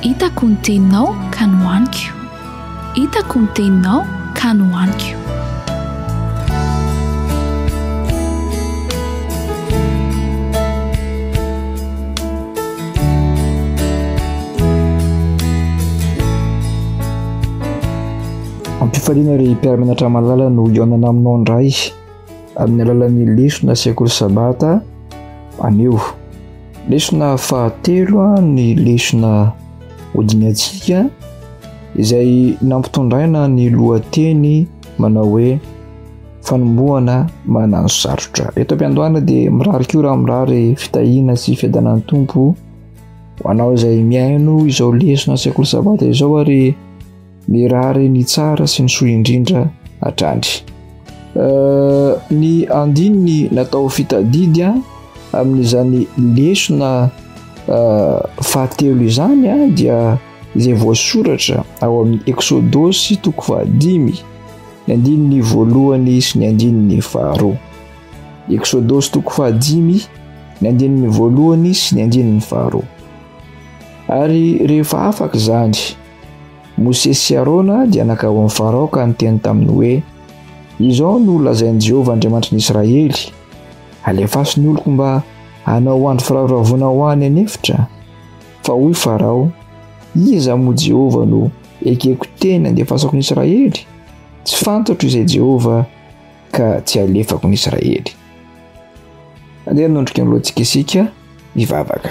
Hitako ny teninao ka nohaniko Hitako ny teninao ka nohaniko. Ampifaliana ry mpiara-mianatra malala ny hohaonana aminao indray. amin'ny alalan'ny lesona sekoly sabata anio. Lesona fahatelo ny lesona hodinihantsika izay nampitondraina ny lohateny manao hoe fanombohana manano sarotra. Eto am-piandohana dia mirary koa raha mirary fitahiana sy fiadanan'ny Tompo ho anao izay mihaino izao lesona sekoly sabata izao ary Mirary ny tsara sy ny soa indrindra hatrany. Euh, ny andininy natao fitadidy a amin'izany lesona euh, fahatelo izany a dia izay voasoratra ao amin'ny Eksodosy toko fahadimy ny andininy voalohany sy ny andininy faharoa. Eksodosy toko fahadimy ny andininy voalohany sy ny andininy faharoa. Ary rehefa afaka izany Mosesy sy Arona dia nankao amin'i Farao ka niteny taminy hoe, Izao no lazain'i Jehovah Andriamanitry ny Israely, Alefaso ny oloko mba hanao andro firavoravoana ho ahy any an'efitra. Fa hoy Farao, Iza moa Jehovah no ekeko teny handefasako ny Israely? Tsy fantatro izay Jehovah ka tsy alefako ny Israely. Andeha hanondrika ny lohantsika isika hivavaka.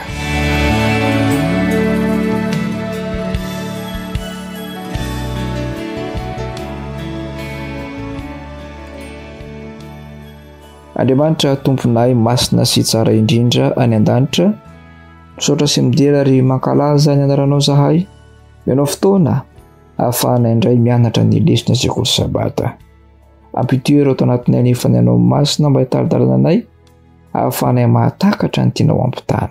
Andriamanitra tomponay masina sy tsara indrindra any an-danitra, misaotra sy midera ary mankalaza ny anaranao zahay. Menao fotoana ahafahana indray mianatra ny lesona sekoly sabata. Ampitoy ireo tao anatin'ny anefany anao masina mba hitari-dalana anay hahafahanay mahatakatra ny tianao hampitana.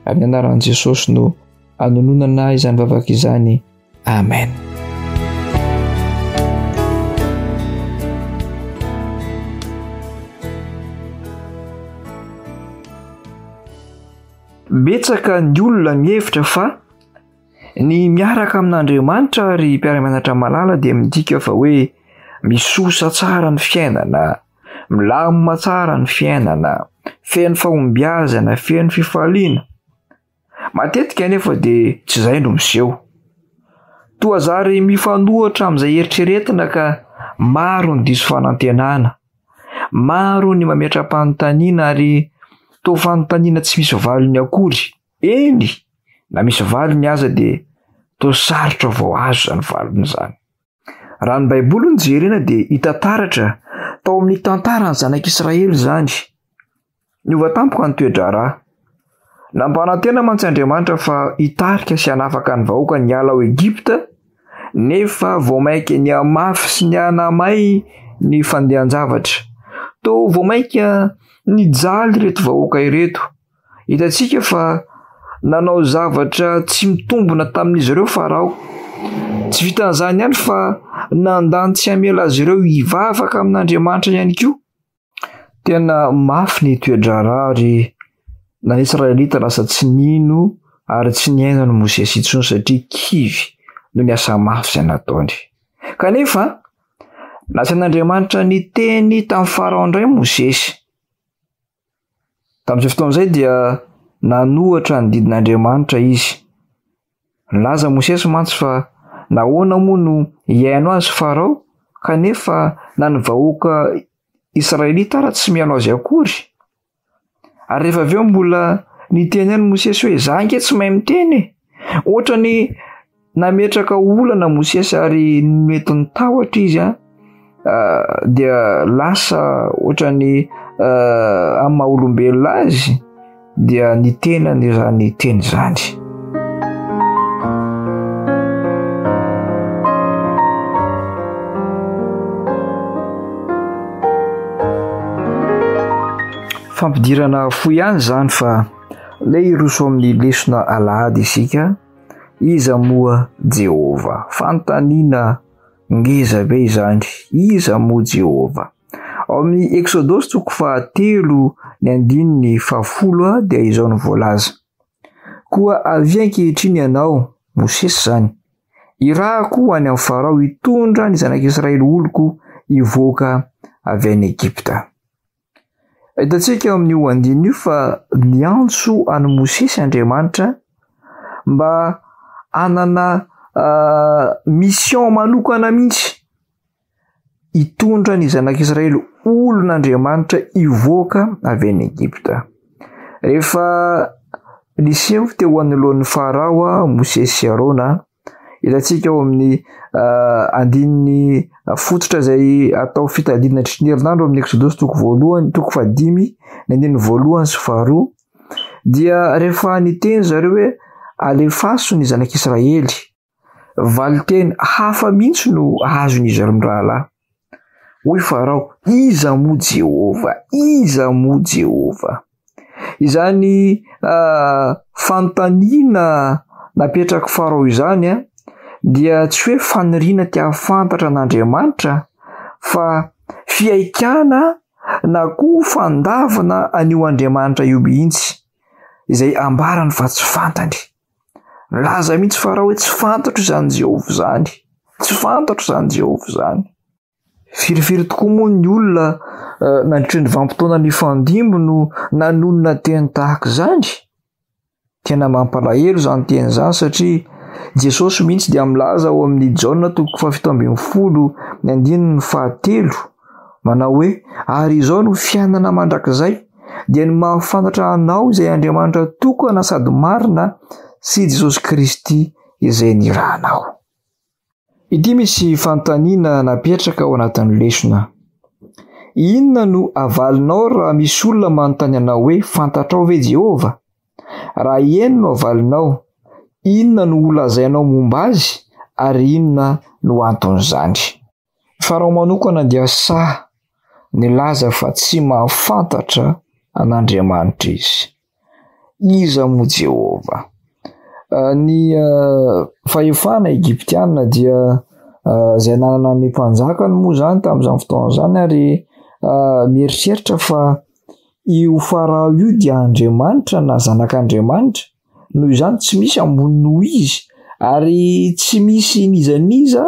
Amin'ny anaran'i Jesosy no anononana izany vavaka izany. Amen. Betsaka ny olona mihevitra fa Ny miaraka amin'Andriamanitra ry mpiara-mianatra malala dia midika fa hoe misosa tsara ny fiainana, milamina tsara ny fiainana, feno fahombiazana, feno fifaliana. Matetika anefa dia tsy izay no miseho. Toa zary mifanohitra amin'izay eritreretina ka maro ny diso fanantenana, maro ny mametra-panontaniana ary toa fanontaniana tsy misy valiny akory. Eny, na misy valiny aza dia toa sarotra vao azo izany valiny izany. Raha ny Baiboly no jerena dia hita taratra tao amin'ny tantaran'ny zanak'Israely izany. Niova tampoka ny toe-draharaha. Nampanantena mantsy Andriamanitra fa hitarika sy hanafaka ny vahoakany hiala ao Egypta, nefa vao mainka nihamafy sy nihanamay ny fandehan-javatra. Toa vao mainka nijaly ireto vahoaka ireto. Hitantsika fa nanao zavatra tsy mitombina tamin'izy ireo Farao. Tsy vitan'izany ihany fa nandà ny tsy hamela azy ireo hivavaka amin'Andriamanitra ihany koa. Tena mafy ny toe-draharaha ary na ny Israelita lasa tsy nino ary tsy niaina an'i Mosesy intsony satria kivy noho ny asa mafy izay nataony. Kanefa, nasain'Andriamanitra niteny tamin'i Farao indray Mosesy. Tamin'izay fotoana izay dia nanohatra ny didin'Andriamanitra izy. Nilaza Mosesy mantsy fa nahoana moa no hihaino azy Farao kanefa na ny vahoaka Israelita ara tsy mihaino azy akory? Ary rehefa avy eo mbola niteny ihany Mosesy hoe za ange tsy mahay miteny e! Ohatrany Nametraka olana Mosesy ary mety ny tahotra izy a dia lasa ohatran'ny amin'ny maha olombelona azy dia ny tenany izany teny izany. Fampidirana fo ihany izany fa le hiroso amin'ny lesona alahady isika. Iza moa Jehovah? Fanontaniana ngeza be izany. Iza moa Jehovah? Ao amin'ny Eksodosy toko fahatelo ny andininy fahafolo dia izao no voalaza, Koa avia ankehitriny ianao, Mosesy izany, irahako ho any amin'ny Farao hitondra ny zanak'Israely oloko hivoaka avy any Egypta. Hitantsika eo amin'io andininy io fa niantso an'i Mosesy Andriamanitra mba hanana mission manokana mihitsy hitondra ny zanak'Israely olon'Andriamanitra hivoaka avy any Egypta. Rehefa niseho teo anoloan'i Farao Mosesy sy Arona Hitantsika ao amin'ny uh, andininy fototra izay atao fitadidiana tritry ny herinandro amin'ny Eksodosy toko voalohany, toko fahadimy, ny andininy voalohany sy faharoa, dia rehefa niteny zareo hoe alefaso ny zanak'Israely, valinteny hafa mihitsy no azon'izy ireo mirahalahy. Hoy Farao, Iza moa Jehovah? Iza moa Jehovah? Izany fanontaniana napetrak'i Farao izany dia tsy hoe faniriana te hahafantatra an'Andriamanitra fa fihaikana na koa fandavana an'io Andriamanitra io mihitsy, izay ambarany fa tsy fantany. Nilaza mihitsy Farao hoe, Tsy fantatro izany Jehovah izany. Tsy fantatro izany Jehovah izany. Firy firy tokoa moa ny olona eh, nandritra ny vanim-potoana nifandimby no nanonona teny tahaka izany? Tena mampalahelo izany teny izany satria Jesosy mihitsy dia milaza ao amin'ny Jaona toko fahafito ambin'ny folo ny andininy fahatelo Manao hoe, Ary izao no fiainana mandrakizay, dia ny mahafantatra Anao izay Andriamanitra tokana sady marina sy i Jesosy Kristy izay nirahanao. Ity misy fanontaniana napetraka ao anatin'ny lesona. Inona no avalinao raha misy olona manontany anao hoe fantatrao ve Jehovah? Raha eny no avalinao, inona no holazainao momba azy ary inona no anton'izany? Fa raha manokana dia sahy nilaza fa tsy mahafantatra an'Andriamanitra izy. Iza moa Jehovah? Ny fahefana egiptiana dia izay nanana ny mpanjakany moa izany tamin'izany fotoana izany ary mieritreritra fa io Farao io dia andriamanitra na zanak'Andriamanitra. Noho izany tsy misy ambony noho izy ary tsy misy n'iza n'iza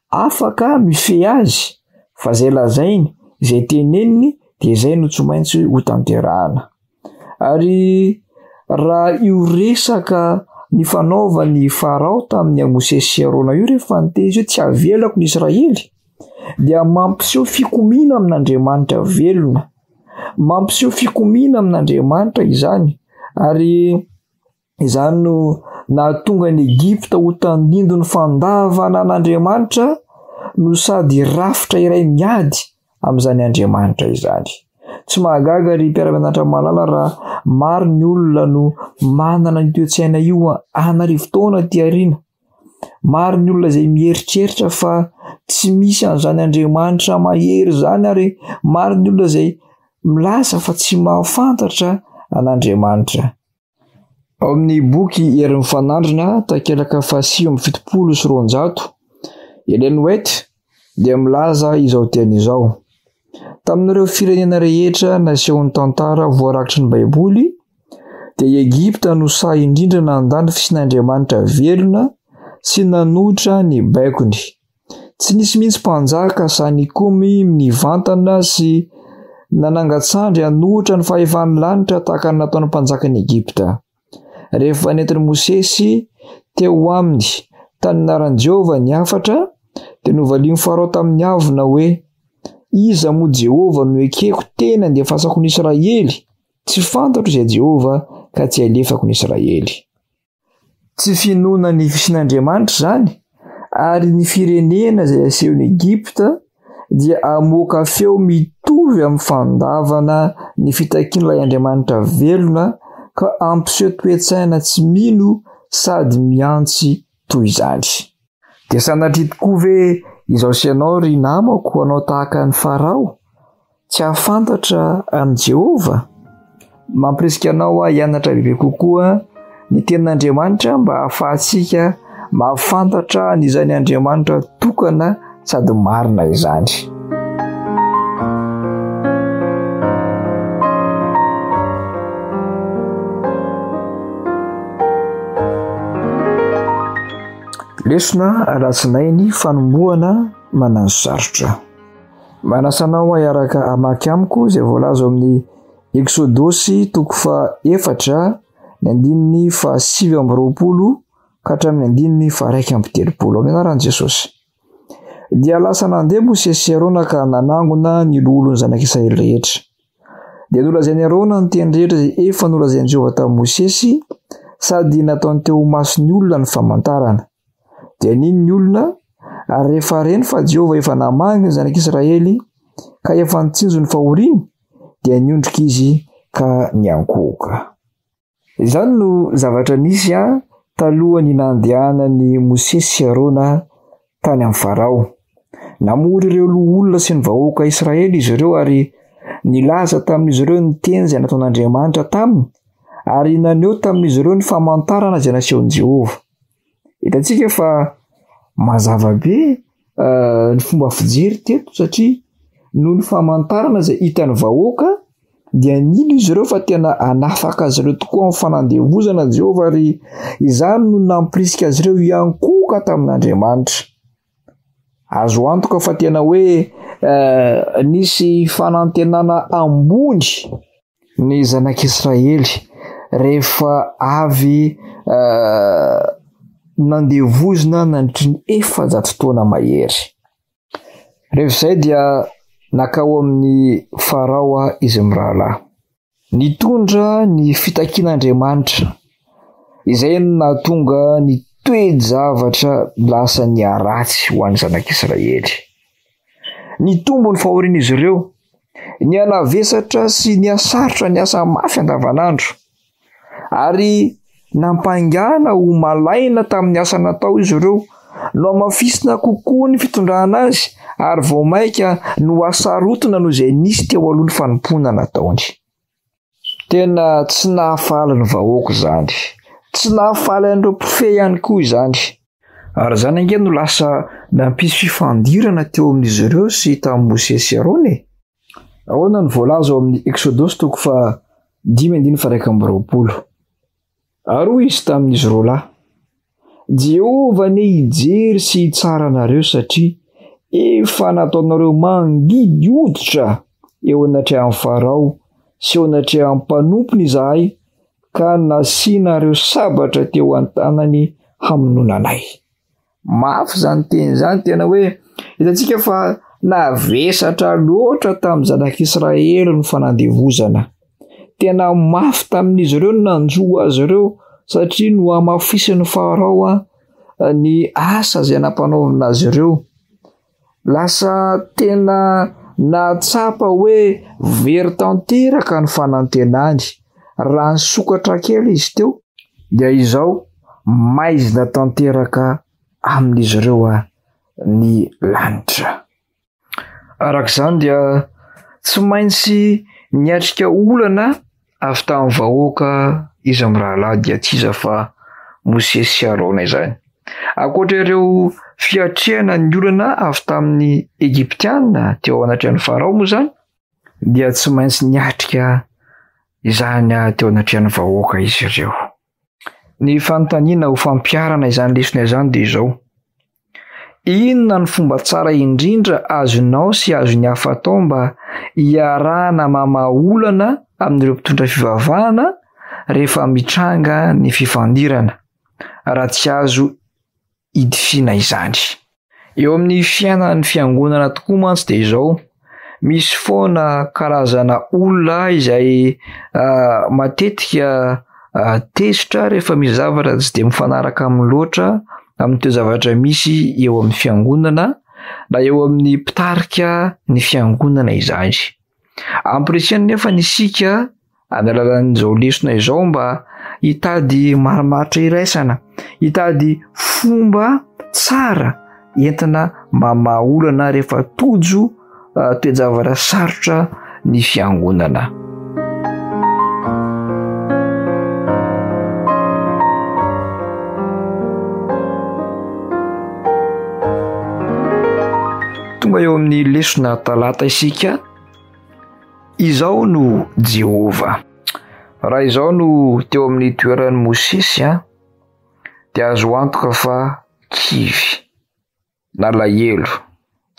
afaka mifehy azy fa izay lazainy, izay teneniny dia izay no tsy maintsy ho tanterahana. Ary raha io resaka nifanaovan'i Farao tamin'i Mosesy sy Arona io rehefa niteny izy hoe tsy avelako ny Israely dia mampiseho fikomiana amin'Andriamanitra velona. Mampiseho fikomiana amin'Andriamanitra izany, ary izany no nahatonga an'i Egypta ho tandindon'ny fandavana an'Andriamanitra no sady rafitra iray miady amin'izany Andriamanitra izany. Tsy mahagaga ry mpiara-mianatra malala raha maro ny olona no manana io toe-tsaina io an'arivo taona aty aoriana. Maro ny olona izay mieritreritra fa tsy misy an'izany Andriamanitra mahery izany ary maro ny olona izay milaza fa tsy mahafantatra an'Andriamanitra. Ao amin'ny boky Hery Mifanandrina, takelaka fahasivy amby fitopolo sy roanjato, Ellen White, dia milaza izao teny izao, Tamin'ireo firenena rehetra nasehon'ny tantara voarakitry ny Baiboly, dia i Egypta no sahy indrindra nandà ny fisian'Andriamanitra velona sy nanohitra ny baikony. Tsy nisy mihitsy mpanjaka sahy nikomy nivantana sy nanangan-tsandry hanohitra ny fahefan'ny lanitra tahaka ny nataon'ny mpanjakan'i Egypta. Rehefa nentin'i Mosesy teo aminy tany anaran'i Jehovah ny hafatra, dia novalian'i Farao tamin'ny avona hoe, Iza moa Jehovah no ekeko teny handefasako ny Israely? Tsy fantatro izay Jehovah ka tsy alefako ny Israely. Tsy finoana ny fisian'Andriamanitra izany, ary ny firenena izay asehon'i Egypta dia hamoaka feo mitovy amin'ny fandavana ny fitakian'ilay Andriamanitra velona ka hampiseho toe-tsaina tsy mino sady mihantsy toy izany. Dia sanatria tokoa ve izaho sy ianao, ry namako, hanao tahaka an'i Farao? Tsy hahafantatra an'i Jehovah? Mampirisika anao aho hianatra bebe kokoa ny Tenin'Andriamanitra mba hahafahantsika mahafantatra an'izany Andriamanitra tokana sady marina izany. Lesona alatsinainy fanombohana manano sarotra. Manasa anao hahiaraka hamaky amiko izay voalaza ao amin'ny Eksodosy toko faha-efatra ny andininy fahasivy amby roapolo ka hatramin'ny andininy faharaika amby telopolo amin'ny anaran'i Jesosy. Dia lasa nandeha Mosesy sy Arona ka nanangona ny loholon'ny zanak'i Israely rehetra. Dia nolazain'i Arona ny teny rehetra izay efa nolazain'i Jehovah tamin'i Mosesy sady nataony teo ho mason'ny olona ny famantarana. Dia nino ny olona, ary rehefa reny fa Jehovah efa namaly ny zanak'Israely ka efa nitsinjo ny fahoriany, dia niondrika izy ka niankohoka. Izany no zavatra nisy talohan'ny nandehanan'i Mosesy sy Arona tany amin'ny Farao. Namory ireo loholona sy ny vahoaka Israely izy ireo ary nilaza tamin'izy ireo ny teny izay nataon'Andriamanitra taminy ary naneho tamin'izy ireo ny famantarana izay nasehon'i Jehovah. Hitantsika fa mazava be eh, ny fomba fijery teto satria noho ny famantarana izay hitan'ny vahoaka dia nino izy ireo fa tena hanafaka azy ireo tokoa amin'ny fanandevozana Jehovah ary izany no nampirisika azy ireo hiankohoka tamin'Andriamanitra. Azo antoka fa tena hoe eh, nisy fanantenana ambony Ny zanak'Israely rehefa avy nandeha vozona nandritry ny efajato taona mahery. Rehefa izay dia nakao amin'ny Farao izy mirahalahy. Nitondra ny fitakian'Andriamanitra izay no nahatonga ny toe-javatra lasa niharatsy ho an'ny zanak'Israely. Nitombo ny fahorian'izy ireo. Nihanavesatra sy nihasarotra niasa mafy andavanandro. Ary nampaingana ho malaina tamin'ny asa natao izy ireo. Nohamafisina kokoa ny fitondrana azy ary vao mainka nohasarotina noho izay nisy teo aloha ny fanompoana nataony. Tena tsy nahafaly ny vahoaka izany. Tsy nahafaly an'ireo mpifehy ihany koa izany. Ary izany ange no lasa nampisy fifandirana teo amin'izy ireo sy tamin'i Mosesy sy Arona e! Ahoana no voalaza ao amin'ny Eksodosy toko faha dimy andininy faha iraika amby roapolo? Ary hoy izy tamin'izy roa lahy, Jehovah anie hijery sy hitsara anareo, satria efa nataonareo mangidy hoditra eo anatrehan'i Farao sy eo anatrehan'ny mpanompony izahay, ka nasianareo sabatra teo an-tanany hamonoana anay. Mafy izany teny izany tena hoe hitantsika fa navesatra loatra tamin'ny zanak'Israely ny fanandevozana. Tena mafy tamin'izy ireo ny nanjo azy ireo satria no hamafisin'ny Farao ny asa izay nampanaovina azy ireo. Lasa tena nahatsapa hoe very tanteraka ny fanantenany. Raha nisokatra kely izy teo dia izao maizina tanteraka amin'izy ireo ah, ny lanitra. Araka izany dia tsy maintsy niatrika olana Avy tamin'ny vahoaka izy mirahalahy dia tsy iza fa Mosesy sy Arona izany. Ankoatra ireo fiatrehana ny olana avy tamin'ny Egyptiana teo anatrehan'ny Farao moa izany dia tsy maintsy niatrika izany teo anatrehan'ny vahoaka izy ireo. Ny fanontaniana ho fampiharana izany lesona izany dia izao, Inona no fomba tsara indrindra azonao sy azon'ny hafa atao mba hiarahana mamaha olana amin'ireo mpitondra fivavahana rehefa mitranga ny fifandirana, raha tsy azo hidifiana izany. Eo amin'ny fiainan'ny fiangonana tokoa mantsy dia izao, misy foana karazana olona izay matetika tezitra rehefa misy zavatra tsy dia mifanaraka aminy loatra amin'ny toe-javatra misy eo amin'ny fiangonana na eo amin'ny mpitarika ny fiangonana izany. Ampirisihana anefa isika Amin'ny alalan'izao lesona izao mba hitady marimaritra iraisana, hitady fomba tsara entina mamaha olana rehefa tojo ah, toe-javatra sarotra ny fiangonana. tonga eo amin'ny lesona talata isika Izao no Jehovah, Raha izaho no teo amin'ny toeran'i Mosesy an, dia azo antoka fa kivy, nalahelo,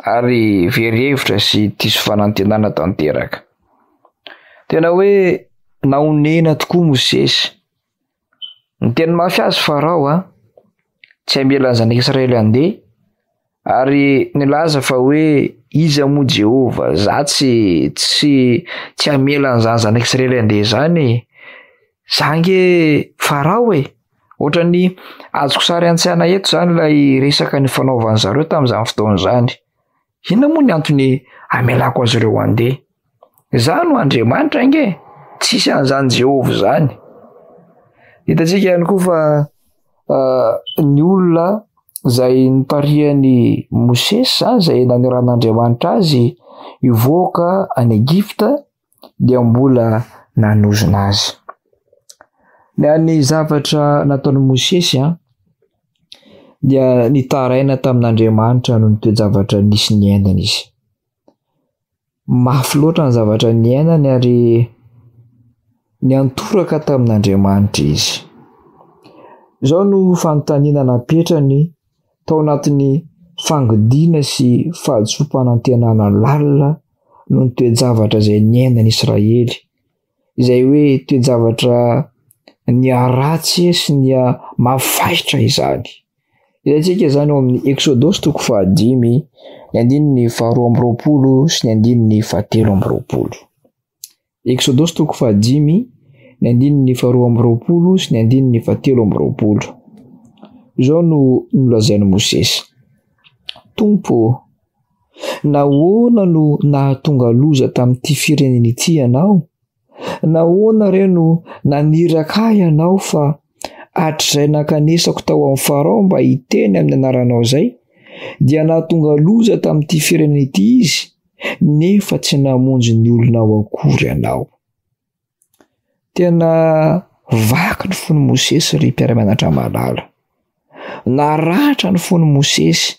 ary very hevitra sy diso fanantenana tanteraka. Tena hoe nahonena tokoa Mosesy Niteny mafy azy Farao an! tsy hamela ny zanak'i Israely handeha, ary nilaza fa hoe iza moa Jehovah, za tsy tsy tsy hamela an'izany zanak'i Israely handeha izany e! Za nge Farao e! Ohatran'ny azoko sary an-tsaina eto izany ilay resaka nifanaovan'i zareo tamin'izany fotoana izany. Inona moa ny antony amelako azy ireo handeha? Izaho no Andriamanitra ange, tsisy an'izany Jehovah izany. Hitantsika ihany koa fa uh, ny olona izay nitarihan'i Mosesy izany izay nanoran'Andriamanitra azy hivoaka any Egypta dia mbola nanozona azy. Ny an'ny zavatra nataon'i Mosesy dia nitaraina tamin'Andriamanitra noho ny toe-javatra nisy niainany izy. Mafy loatra ny zavatra niainany ary niantoraka tamin'Andriamanitra izy. Izao no fanontaniana napetrany tao anatin'ny fangidina sy fahadisoam-panantenana lalina noho ny toe-javatra izay niainan'i Israely, izay hoe toe-javatra niharatsy sy niha mafy fahitra izany. Hitantsika izany ao amin'ny Eksodosy toko fahadimy, ny andininy faharoa amby roapolo sy ny andininy fahatelo amby roapolo. Eksodosy toko fahadimy, ny andininy faharoa amby roapolo sy ny andininy fahatelo amby roapolo. Izao no nolazain'i Mosesy, Tompo ô, nahoana no nahatonga loza tamin'ity firenena ity ianao? Nahoana re no naniraka ahy ianao fa hatrizay nankanesako tao amin'i Farao mba hiteny amin'ny anaranao izay, dia nahatonga loza tamin'ity firenena ity izy? nefa tsy namonjy ny olonao akory ianao. Tena vaky ny fon'i Mosesy ry mpiara-mianatra malala. Naratra ny fon'i Mosesy.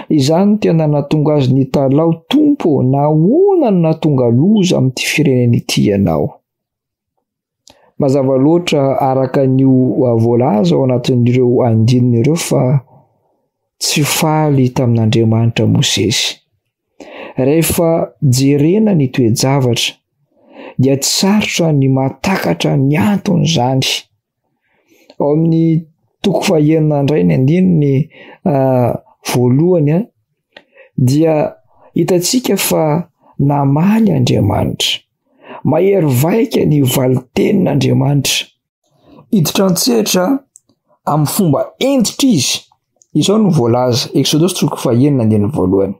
Izany tena natonga azy nitalaho, Tompo, nahoana no natonga loza amin'ity firenena ity ianao? Mazava loatra araka ny voalaza ao anatin'ireo andininy ireo fa tsy faly tamin'Andriamanitra Mosesy. Rehefa jerena ny toe-javatra dia tsy sarotra ny mahatakatra ny anton'izany. Ao amin'ny toko fahenina indray ny andininy ah, voalohany ah, dia hitantsika fa namaly Andriamanitra. Mahery vaika ny valin-tenin'Andriamanitra. Hiditra an-tsehatra amin'ny fomba hentitra izy. Izao no voalaza, Eksodosy toko fahenina andininy voalohany,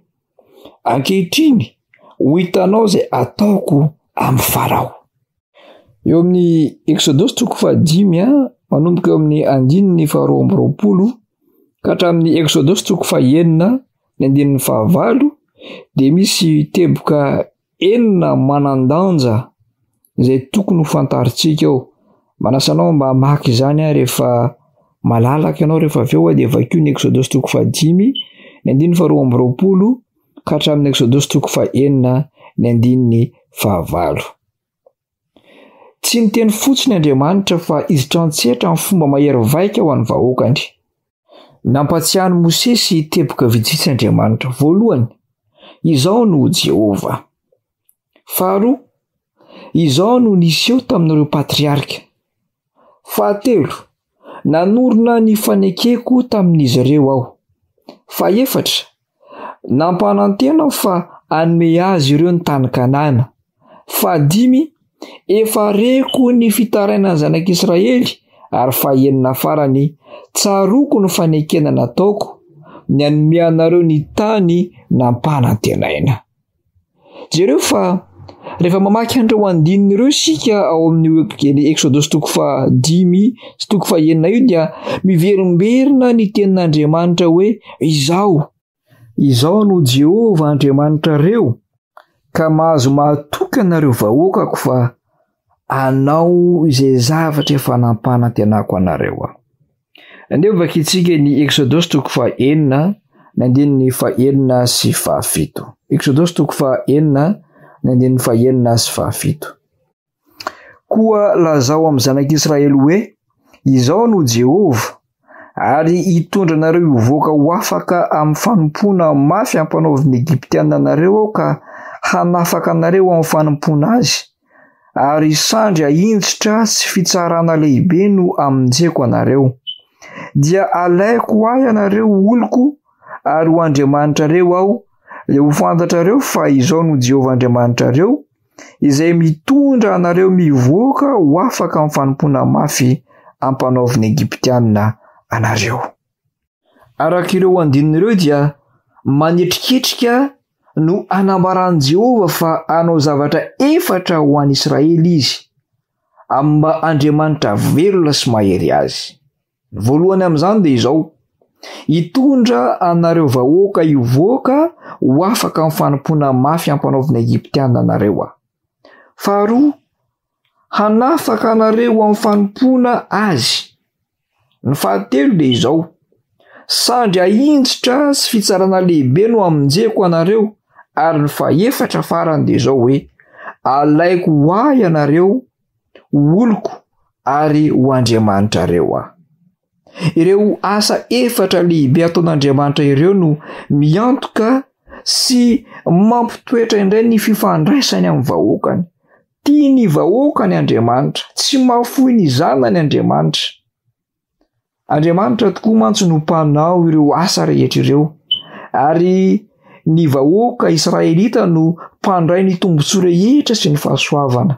Ankehitriny, ho hitanao izay hataoko amin'i Farao. Eo amin'ny Eksodosy toko fahadimy, manomboka eo amin'ny andininy faharoa amby roapolo ka hatramin'ny Eksodosy toko fahenina ny andininy fahavalo, dia misy teboka enina manan-danja izay tokony ho fantarintsika ao. Manasa anao mba hamaky izany aho rehefa malalaka ianao rehefa avy eo dia vakio ny Eksodosy toko fahadimy ny andininy faharoa amby roapolo ka hatramin'ny Eksodosy toko fahenina ny andininy fahavalo. Tsy niteny fotsiny Andriamanitra fa izitra an-tsetra amin'ny fomba mahery vaika ho an'ny vahoakany. Nampatsiahin'i Mosesy teboka vitsivitsy Andriamanitra. Voalohany, izao no Jehovah. Faharoa, izao no niseho tamin'ireo patriarika. Fahatelo, nanorina ny fanekeko tamin'izy ireo aho. Fahefatra, Nampanantena aho fa hanome azy ireo ny tany Kanana. Fahadimy, efa reko ny fitarainan'ny Zanak'Israely, ary fahenina farany, tsaroako ny fanekena nataoko, ny hanome anareo ny tany nampanantenaina. Jereo fa rehefa mamaky an'ireo andininy ireo isika ao amin'ny Eny Eksodosy toko fa dimy sy toko fa enina io dia miverimberina ny tenin'Andriamanitra hoe izao. Izao no Jehova Andriamanitra reo ka mahazo mahatokana ireo vahoakako fa anao izay zavatra efa nampanantenako anareo aho. Andevo vakintsika ny Eksodosy toko faha enina ny andininy faha enina sy faha fito. Eksodosy toko faha enina ny andininy faha enina sy faha fito. Koa lazao amin'ny zanak'Israely hoe, Izao no Jehovah, ary hitondra anareo hivoaka ho afaka amin'ny fanompoana mafy ampanaovin'ny Egyptiana anareo aho ka hanafaka anareo amin'ny fanompoana azy, ary sandry ahinjitra sy fitsarana lehibe no amonjeko anareo. Dia alaiko ho ahy ianareo ho oloko ary ho Andriamanitrareo aho, dia ho fantatrareo fa izaho no Jehovah Andriamanitrareo, izay mitondra anareo mivoaka ho afaka amin'ny fanompoana mafy ampanaovin'ny Egyptianina anareo. Araka ireo andininy ireo dia manetriketrika no anambaran'i Jehovah fa hanao zavatra efatra ho an'i Israely izy, amin'ny maha Andriamanitra velona sy mahery azy. Ny voalohany amin'izany dia izao, Hitondra anareo vahoaka hivoaka ho afaka amin'ny fanompoana mafy ampanaovin'ny Egyptiana anareo aho. Faharoa, hanafaka anareo amin'ny fanompoana Azy. Ny fahatelo dia izao, Sandry ahinjitra sy fitsarana lehibe no hamonjeko anareo, ary ny fahefatra farany dia izao hoe, Alaiko ho Ahy ianareo, ho oloko ary ho Andriamanitrareo Aho. Ireo asa efatra lehibe ataon'Andriamanitra ireo no miantoka sy mampitoetra indray ny fifandraisany amin'ny vahoakany. Tia ny vahoakany Andriamanitra, tsy mahafoy ny zanany Andriamanitra. Andriamanitra tokoa mantsy no mpanao ireo asa rehetra ireo ary ny vahoaka Israelita no mpandray ny tombontsoa rehetra sy ny fahasoavana.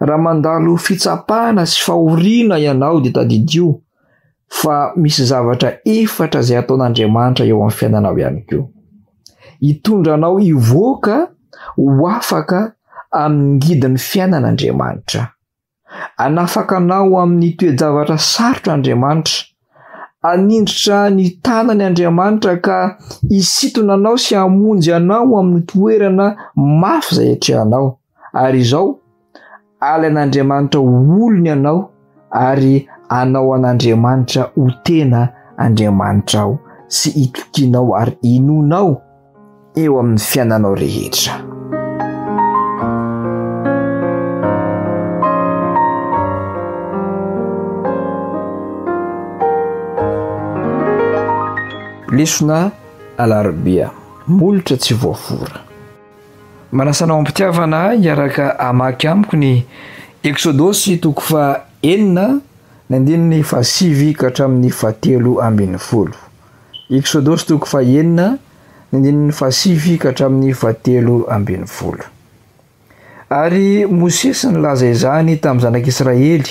Raha mandalo fitsapana sy fahoriana ianao dia tadidio fa misy zavatra efatra izay ataon'Andriamanitra eo amin'ny fiainanao ihany koa. Hitondra anao hivoaka ho afaka amin'ny ngidin'ny fiainana Andriamanitra. Anafaka anao amin'ny toe-javatra sarotra Andriamanitra Hanindritra ny tanany Andriamanitra ka hisintona anao sy hamonjy anao amin'ny toerana mafy izay atrehanao. Ary izao, alain'Andriamanitra ho olony ianao ary anao an'Andriamanitra ho tena Andriamanitrao sy itokianao ary inoanao. eo amin'ny fiainanao rehetra. Lesona Alarobia, Molotra tsy voafora. Manasa anao am-pitiavana hiaraka hamaky amiko ny Eksodosy toko faha enina ny andininy fahasivy ka hatramin'ny fahatelo ambin'ny folo. Eksodosy toko fahenina, ny andininy fahasivy ka hatramin'ny fahatelo ambin'ny folo. Ary Mosesy nilaza izany tamin'ny zanak'Israely,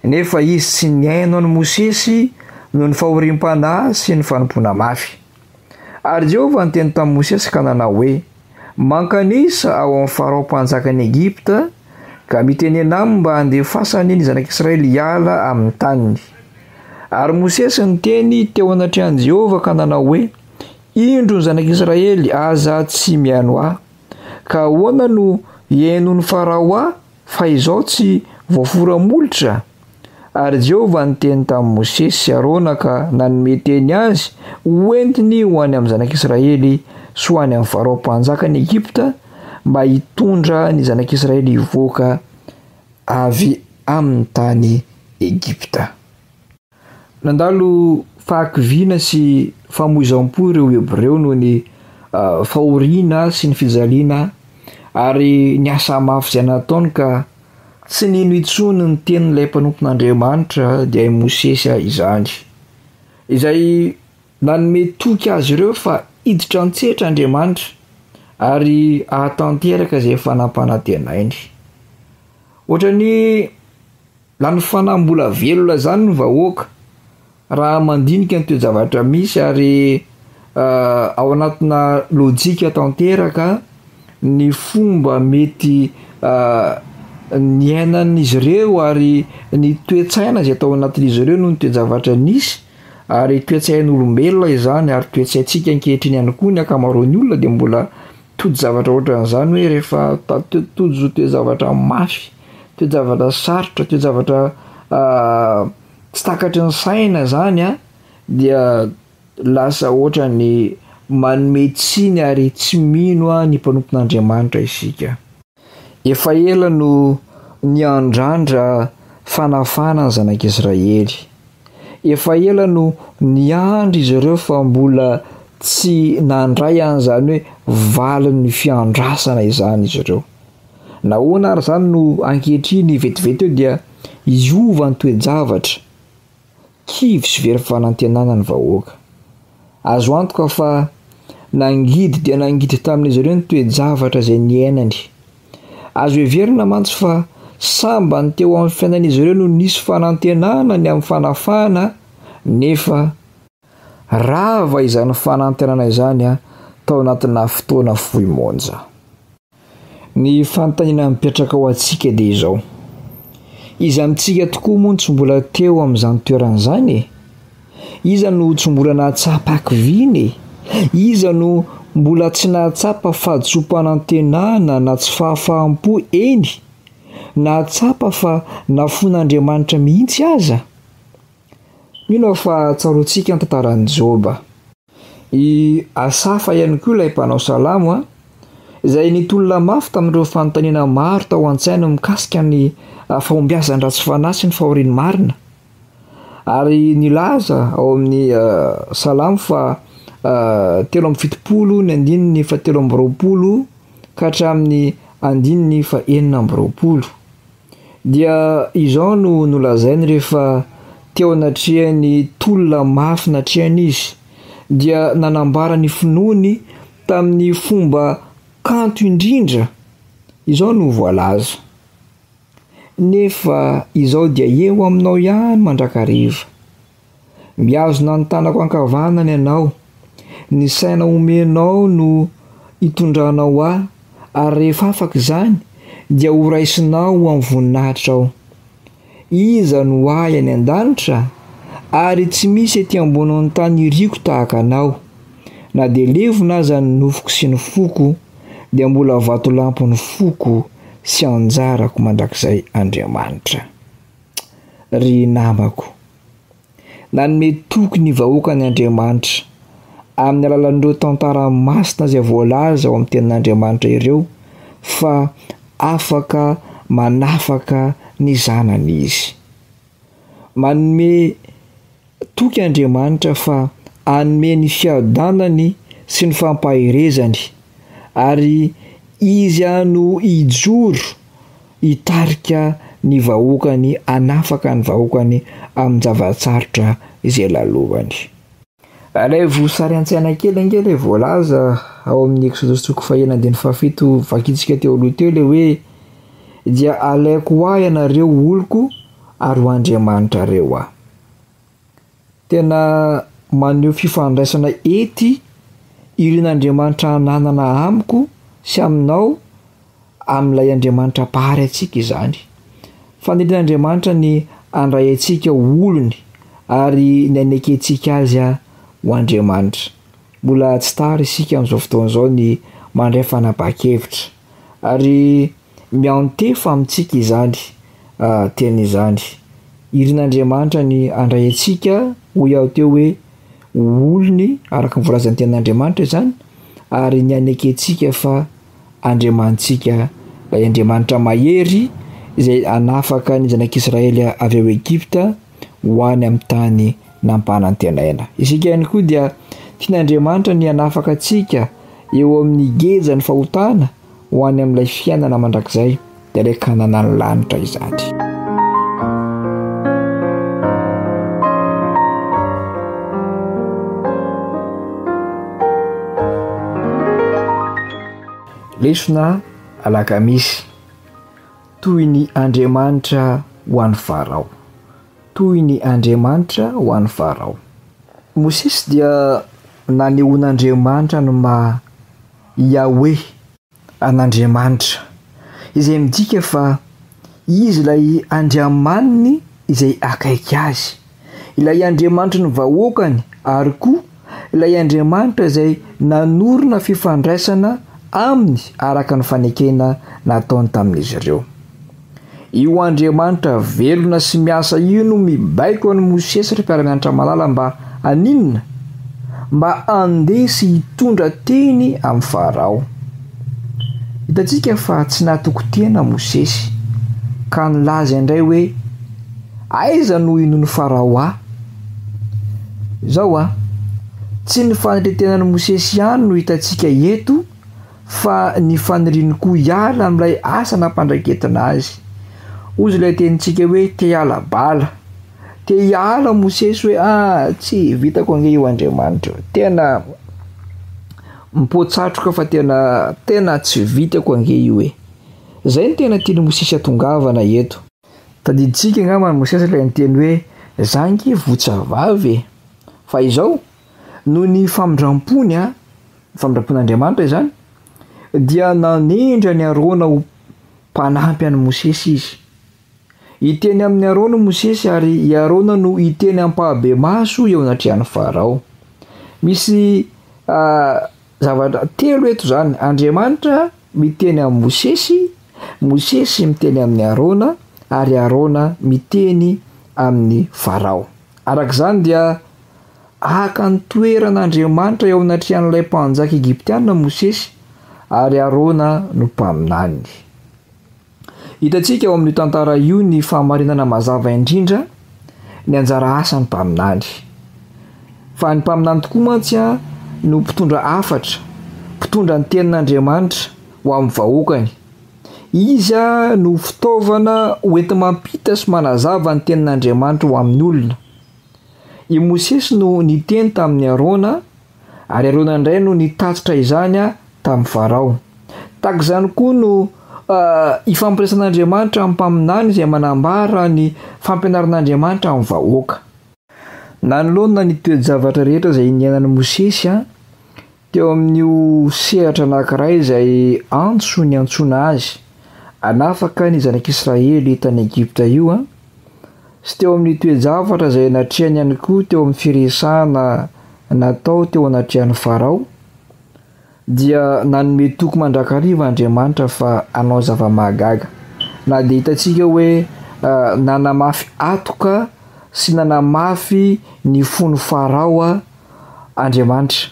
nefa izy tsy nihaino an'i Mosesy noho ny fahoriam-panahy sy ny fanompoana mafy. Ary Jehovah niteny tamin'i Mosesy ka nanao hoe, Mankanisa ao amin'i Farao mpanjakan'i Egypta, ka mitenena aminy mba handefasany ny zanak'Israely hiala amin'ny taniny. Ary Mosesy niteny teo anatrehan'i Jehovah ka nanao hoe, Indro ny zanak'Israely aza tsy mihaino ahy. Ka ahoana no hihainoan'i Farao ahy fa izao tsy voafora molotra? Ary Jehovah niteny tamin'i Mosesy sy Arona ka nanome teny azy ho entiny ho any amin'ny zanak'Israely sy ho any amin'ny Farao mpanjakan'i Egypta mba hitondra ny zanak'Israely hivoaka avy amin'ny tany Egypta. Nandalo fahakiviana sy famoizam-po ireo Hebreo noho ny fahoriana sy ny fijaliana ary ny asa mafy izay nataony ka Tsy nino intsony ny tenin'ilay mpanompon'Andriamanitra, dia i Mosesy izany, izay nanome toky azy ireo fa hiditra an-tsehatra Andriamanitra ary hahatanteraka izay efa nampanantenainy. Ohatran'ny lany fanahy mbola velona izany ny vahoaka. Raha mandinika ny toe-javatra misy ary ao anatina lojika tanteraka ny fomba mety niainan'izy ireo ary ny toe-tsaina izay tao anatin'izy ireo noho ny toe-javatra nisy ary toe-tsain'olombelona izany ary toe-tsaintsika ankehitriny ihany koa ny ankamaroan'ny olona dia mbola tojo-javatra ohatran'izany hoe rehefa tojo toe-javatra mafy, toe-javatra sarotra, toe-javatra Tsy takatry ny saina zany an, dia lasa ohatrany manome tsiny ary tsy mino an ny mpanompon'Andriamanitra isika. Efa ela no niandrandra fanafahana ny zanak'Israely. Efa ela no niandry izy ireo fa mbola tsy nandray an'izany hoe valin'ny fiandrasana izany izy ireo. Nahoana ary izany no ankehitriny vetivety eo dia hiova ny toe-javatra, kivy sy very fanantenana ny vahoaka. Azo antoka fa nangidy dia nangidy tamin'izy ireo ny toe-javatra izay niainany. Azo heverina mantsy fa sambany teo amin'ny fiainan'izy ireo no nisy fanantenana ny amin'ny fanafahana nefa rava izany fanantenana izany tao anatina fotoana fohy monja. Ny fanontaniana mipetraka ho antsika dia izao, iza amintsika tokoa moa no tsy mbola teo amin'izany toerana izany e? Iza no tsy mbola nahatsapa hakiviana e? Iza no mbola tsy nahatsapa fahadisoam-panantenana na tsy fahafaham-po, eny, nahatsapa fa nafoin'Andriamanitra mihitsy aza? Mino aho fa tsaroantsika ny tantaran'i Joba. I Asafa ihany koa ilay mpanao salamo, izay nitolona mafy tamin'ireo fanontaniana maro tao an-tsainy mikasika ny fahombiazan'ny ratsy fanahy sy ny fahorian'ny marina, ary nilaza ao amin'ny Salamo fahatelo amby fitopolo ny andininy fahatelo amby roapolo ka hatramin'ny andininy fahenina amby roapolo. Dia izao no nolazainy rehefa teo anatrehan'ny tolona mafy natrehany izy, dia nanambara ny finoany tamin'ny fomba kanto indrindra, izao no voalaza, Nefa izao dia eo aminao ihany mandrakariva, Mihazona ny tanako ankavanana ianao, ny saina omenao no itondranao ahy, ary rehefa afaka izany dia horaisinao ho amin'ny voninahitra ao. Iza no ahy any an-danitra? Ary tsy misy ety ambonin'ny tany iriko tahaka anao. Na dia levona aza ny nofoko sy ny foko, dia mbola vatolampy ny foko sy anjarako mandrakizay Andriamanitra. ry namako. Nanome toky ny vahoakany Andriamanitra amin'ny alalan'ireo tantara masina izay voalaza ao amin'ny tenin'Andriamanitra ireo fa afaka manafaka ny zanany izy. Manome Toky Andriamanitra fa hanome ny fiadanany sy ny fampaherezany, ary Izy ihany no hijoro hitarika ny vahoakany, hanafaka ny vahoakany amin'ny zava-tsarotra izay lalovany. Alaivo sary an-tsaina kely ange ilay voalaza ao amin'ny Eksodosy toko fahenina andininy fahafito vakintsika teo aloha teo ilay hoe, Dia halaiko ho ahy ianareo oloko ary ho Andriamanitrareo aho. Tena maneho fifandraisana ety irin'Andriamanitra ananana amiko sy aminao amin'ilay Andriamanitra Mpahary antsika izany. Fanirian'Andriamanitra ny handray antsika ho olony ary ny hanekentsika Azy ho Andriamanitra. Mbola tsy tara isika amin'izao fotoana izao ny mandray fanapahan-kevitra ary Miantefa amintsika izany teny izany. Irin'Andriamanitra ny handray antsika, hoy aho teo hoe ho olony araka ny voalazan'ny tenin'Andriamanitra izany ary ny hanekentsika fa Andriamanitsika ilay Andriamanitra mahery izay hanafaka ny zanak'Israely avy ao Egypta ho any amin'ny tany nampanantenaina. Isika ihany koa dia tian'Andriamanitra ny hanafaka antsika eo amin'ny gejan'ny fahotana ho any amin'ilay fiainana mandrakizay, dia ilay Kananan'ny lanitra izany. Lesona alakamisy, toy ny Andriamanitra ho an'i Farao. Toy ny Andriamanitra ho an'i Farao. Mosesy dia nanehoan'Andriamanitra ny maha Yahweh, an'Andriamanitra, izay midika fa Izy ilay Andriamaniny izay akaiky azy, ilay Andriamanitry ny vahoakany ary koa ilay Andriamanitra izay nanorina fifandraisana aminy araka ny fanekena nataony tamin'izy ireo. Io Andriamanitra velona sy miasa io no mibaiko an'i Mosesy ry mpiara-mianatra malala mba haninona? Mba handeha sy hitondra teny amin'i Farao. Hitantsika fa tsy natoky tena Mosesy ka nilaza indray hoe aiza no hinoan'i Farao ahy? Zao a! Tsy ny fanetren-tenan'i Mosesy ihany no hitantsika eto fa ny faniriany koa hiala amin'ilay asa nampandraiketina azy. Hoy ilay tenintsika hoe te hiala bala. Te hiala Mosesy hoe ah tsy vitako ange io Andriamanitra. Tena mipotsatroka fa tena tena tsy vitako ange io e. Zay ny tena tian'i Mosesy hatongavana eto. Tadidintsika angamba an'i Mosesy ilay niteny hoe za ange votsa vavy e. Fa izao noho ny famindram-pony, ny famindram-pon'Andriamanitra izany, dia nanendry an'i Arona ho mpanampy an'i Mosesy izy. Hiteny amin'i Arona i Mosesy ary i Arona no hiteny ampahibemaso eo anatrehan'i Farao. Misy uh, zavatra telo eto izany, Andriamanitra miteny amin'i Mosesy, Mosesy miteny amin'i Arona, ary Arona miteny amin'ny Farao. Araka izany dia Haka ny toeran' Andriamanitra eo anatrehan' ilay mpanjaka egiptiana Mosesy, ary Arona no mpaminany. Hitantsika ao amin' io tantara io ny fahamarinana mazava indrindra ny anjara asan' ny mpaminany. Fa ny mpaminany tokoa mantsy no mpitondra hafatra, mpitondra ny tenin' Andriamanitra ho amin' ny vahoakany. Izy no fitaovana hoenti-mampita sy manazava ny tenin' Andriamanitra ho amin' ny olona. I Mosesy no niteny tamin'i Arona, ary Arona indray no nitatitra izany tamin'i Farao. Tahaka izany koa no ifampiraisan'Andriamanitra amin'ny mpaminany izay manambara ny fampianaran'Andriamanitra amin'ny vahoaka. Nanoloana ny toe-javatra rehetra izay niainan'i Mosesy, Teo amin'io sehatra anankiray izay antso niantsoana azy hanafaka ny zanak'Israely tany Egypta io, sy teo amin'ny toe-javatra izay natrehany ihany koa teo amin'ny firesahana natao teo anatrehan'i Farao, dia nanome toky mandrakariva Andriamanitra fa hanao zava-mahagaga. Na dia hitantsika hoe nanamafy hatoka sy nanamafy ny fon'i Farao Andriamanitra.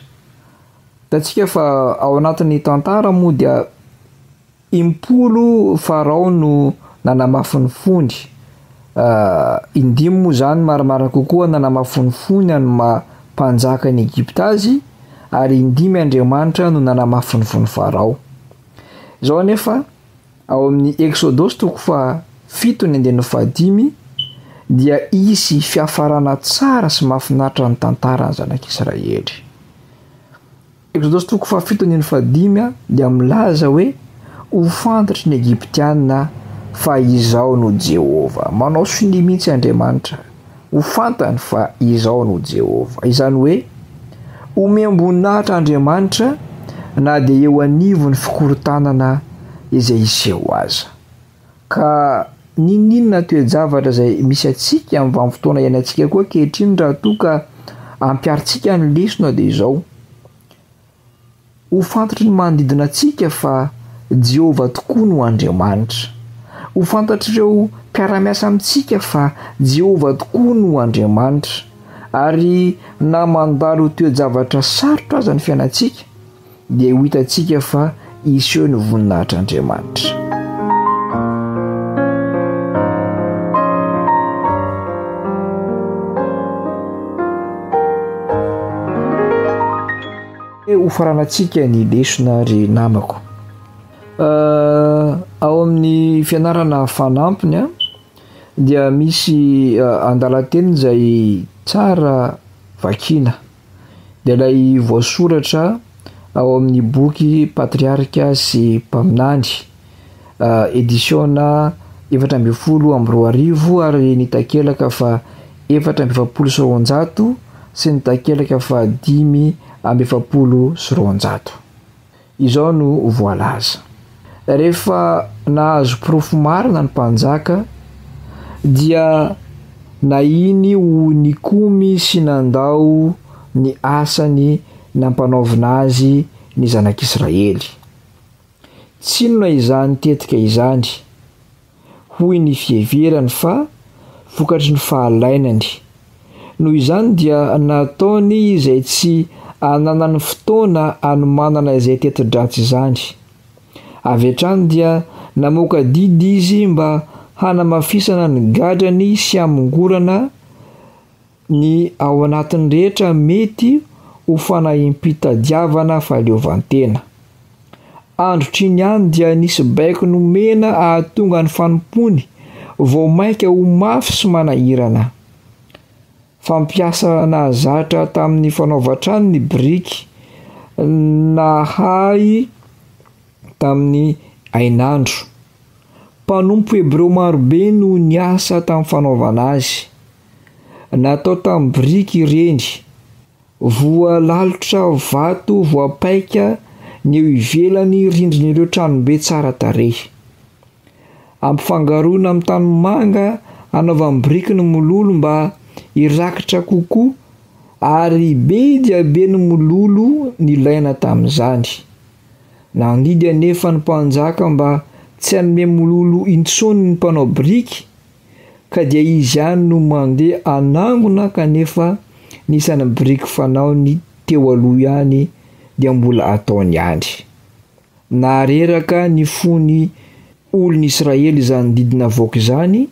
Hitantsika fa ao anatin'ny tantara moa dia impolo Farao no nanamafy ny fony, indimy moa izany marimarina kokoa nanamafy ny fony an'ny maha mpanjaka an'i Egypta azy ary indimy Andriamanitra no nanamafy ny fon'i Farao. Izao anefa Ao amin'ny Eksodosy toko fahafito ny andininy fahadimy dia hisy fiafarana tsara sy mahafinaritra ny tantaran'ny zanak'Israely. Eksodosy toko fahafito andininy fahadimy dia milaza hoe ho fantatry ny Egyptiana fa izaho no Jehovah. Manao sonia mihitsy Andriamanitra. Ho fantany fa izaho no Jehovah. Izany hoe, omem-boninahitra Andriamanitra na dia eo anivon'ny fikorontanana izay hiseho aza. Ka n'inon'inona toe-javatra izay misy antsika amin'ny vanim-potoana iainantsika koa ankehitriny raha toa ka ampiharintsika ny lesona dia izao, Ho fantatry ny manodidina antsika fa Jehovah tokoa no Andriamanitra. Ho fantatr'ireo mpiara-miasa amintsika fa Jehovah tokoa no Andriamanitra. Ary na mandalo toe-javatra sarotra aza ny fiainantsika, dia ho hitantsika fa Hiseho ny voninahitr'Andriamanitra. Hofaranantsika ny lesona ry namako. Ao amin'ny fianarana fanampiny a, dia misy andalan-teny izay tsara vakiana. dia ilay voasoratra ao amin'ny boky Patriarika sy Mpaminany, edisiona efatra ambin'ny folo amby roa arivo ary ny takelaka fa efatra amby efapolo sy roanjato sy ny takelaka fa dimy amby efapolo sy roanjato. Izao no voalaza, Rehefa nahazo porofo marina ny mpanjaka, dia nahiny ho nikomy sy nandao ny asany nampanaovina azy ny zanak'Israely. Tsinona izany tetika izany. hoy ny fiheverany fa vokatry ny fahalainany. Noho izany dia nataony izay tsy ananany fotoana anomanana izay teti-dratsy izany. Avy hatrany dia namoaka didy izy mba hanamafisana ny gadrany sy hamongorana Ny ao anatiny rehetra mety ho fanahiam-pitadiavana fahaleovantena. Androtr'iny ihany dia nisy baiko nomena hahatonga ny fanompoany vao mainka ho mafy sy manahirana. Fampiasa nahazatra tamin'ny fanaovan-trano ny biriky nahay tamin'ny hainandro. Mpanompo hebreo maro be no niasa tamin'ny fanaovana azy. Natao tamin'ny biriky ireny. Voalalotra vato voapaika ny eo ivelan'ny rindrin'ireo tranobe tsara tarehy. Ampifangaroina amin'ny tanimanga hanaovany biriky ny mololo mba hirakitra kokoa, ary be dia be ny mololo nilaina tamin'izany. Nandidy anefa ny mpanjaka mba tsy hanome mololo intsony ny mpanao biriky, ka dia izy ihany no mandeha hanangona kanefa ny isan'ny biriky fanaony teo aloha ihany dia mbola ataony ihany. Nahareraka ny fony Olon'i Israely izany didy navoaka izany,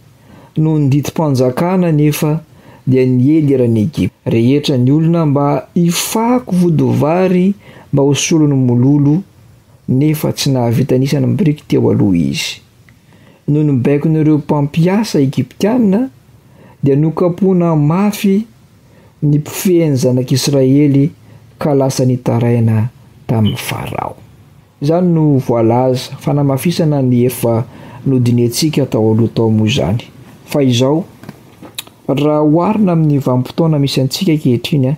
noho ny didim-panjakana anefa dia niely eran'i Egypta rehetra ny olona mba hifako vodivary mba ho solon'ny mololo, nefa tsy nahavita an'isa ny biriky teo aloha izy. Noho ny baikon'ireo mpampiasa egyptiana, dia nokapohina mafy ny mpifehy ny zanak'Israely ka lasa nitaraina tamin'i Farao. Izany no voalaza fanamafisana ny efa nodinihantsika tao aloha tao moa izany. Fa izao, raha oharina amin'ny vanim-potoana misy antsika ankehitriny,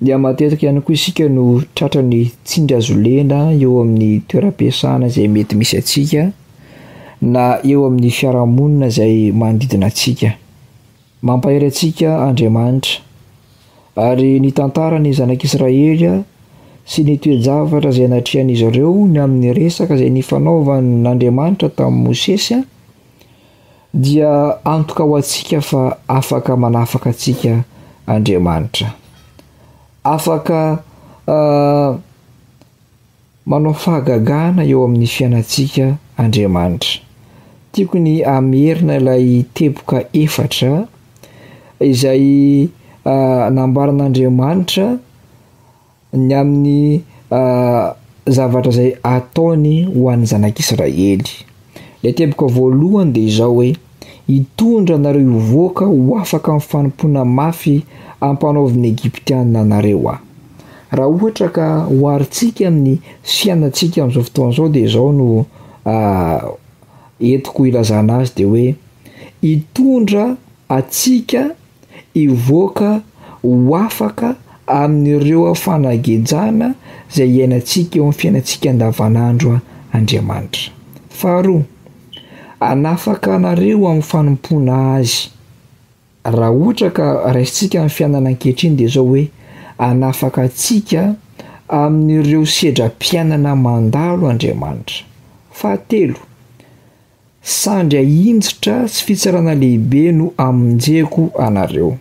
dia matetika ihany koa isika no tratran'ny tsingazolena eo amin'ny toeram-piasana izay mety misy antsika na eo amin'ny fiarahamonina izay manodidina antsika. Mampahery antsika Andriamanitra. Ary nitantara ny zanak'Israely sy ny toe-javatra izay natrehan'izy ireo ny amin'ny resaka izay nifanaovan'Andriamanitra tamin'i Mosesy, dia antoka ho antsika fa afaka manafaka antsika Andriamanitra. Afaka uh, Manao fahagagana eo amin'ny fiainantsika Andriamanitra. Tiako ny hamerina ilay teboka efatra izay nambaran'Andriamanitra ny amin'ny zavatra izay ataony ho an'ny zanak'Israely. Ilay teboka voalohany dia izao hoe, Hitondra anareo hivoaka ho afaka amin'ny fanompoana mafy ampanaovin'ny Egyptiana anareo Aho. Raha ohatra ka oharintsika amin'ny fiainantsika amin'izao fotoana izao dia izao no entiko hilazana azy dia hoe, Hitondra antsika hivoaka ho afaka amin'ireo fanagejana izay iainantsika eo amin'ny fiainantsika andavanandro Andriamanitra. Faharoa, hanafaka anareo amin'ny fanompoana Azy. Raha ohatra ka raisintsika ny fiainana ankehitriny dia izao hoe, hanafaka antsika amin'ireo sedram-piainana mandalo Andriamanitra. Fahatelo. Sandry ahinjitra sy fitsarana lehibe no amonjeko anareo.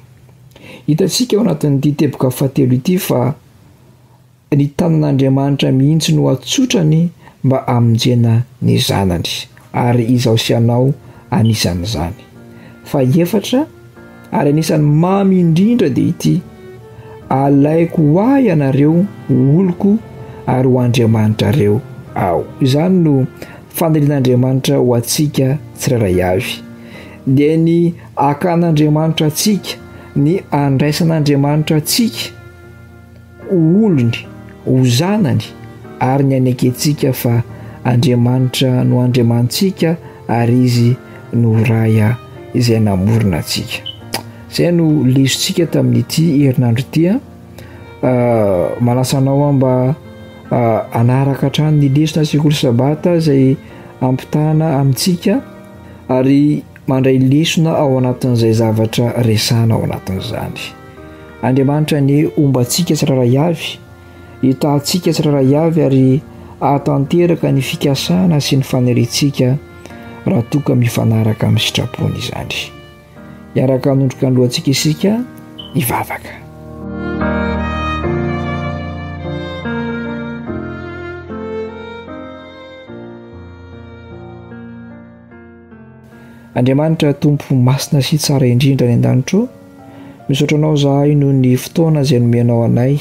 Hitantsika ao anatin'ity teboka fahatelo ity fa ny tanan'Andriamanitra mihitsy no atsotrany mba hamonjena ny zanany ary izaho sy ianao anisan'izany. Faha efatra, ary anisan'ny mamy indrindra dia ity alaiko ho ahy ianareo ho oloko ary ho andriamanitrareo aho izany no fanirian'andriamanitra ho antsika tsirairay avy dia ny akan'andriamanitra antsika ny andraisan'andriamanitra antsika ho olony, ho zanany, ary ny hanekentsika fa Andriamanitra no Andriamanitsika ary Izy no Ray izay namorona antsika. Izay no lesontsika tamin'ity herinandro ity. Ah. Ah, manasa anao aho mba ah, hanaraka hatrany ny lesona sekoly sabata izay ampitahana amintsika ary mandray lesona ao anatin'izay zavatra resana ao anatin'izany. Andriamanitra anie homba antsika tsirairay avy, hitaha antsika tsirairay avy ary hahatanteraka ny fikasana sy ny faniriantsika raha toa ka mifanaraka amin'ny sitrapony izany. Hiaraka hanondroka ny lohantsika isika hivavaka. Andriamanitra Tompo masina sy tsara indrindra any an-danitra ô, misaotra Anao izahay noho ny fotoana izay nomenao anay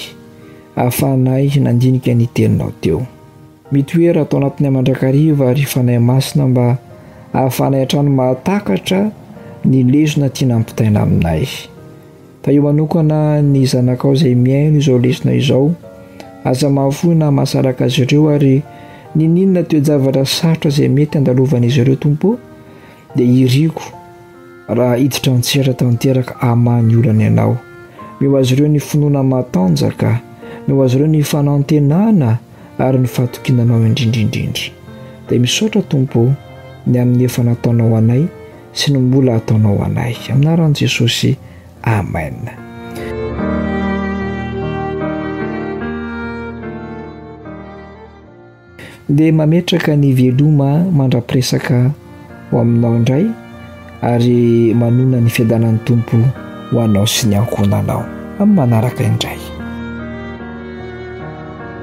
ahafahanay nandinika ny Teninao teo. Mitoera ato anatinay mandrakariva ry Fanahy Masina mba ahafahanay hatrany mahatakatra ny lesona tiana ampitaina aminay. Tahio manokana ny zanakao izay mihaino izao lesona izao. Aza mahafoy na mahasaraka azy ireo ary nininona toe-javatra sarotra izay mety handalovan'izy ireo Tompo dia hiriako raha hiditra an-tsehatra tanteraka amany olana ianao. Meo azy ireo ny finoana matanjaka, meo azy ireo ny fanantenana ary ny fatokiana anao indrindra indrindra. Dia misaotra Tompo ny amin'ny efa nataonao anay sy ny mbola hataonao anay. Amin'ny anaran'i Jesosy, amen. Dia mametraka ny veloma mandra-piresaka ho aminao indray ary manona ny fiadanan'ny Tompo ho anao sy ny ankohonanao amin'ny manaraka indray.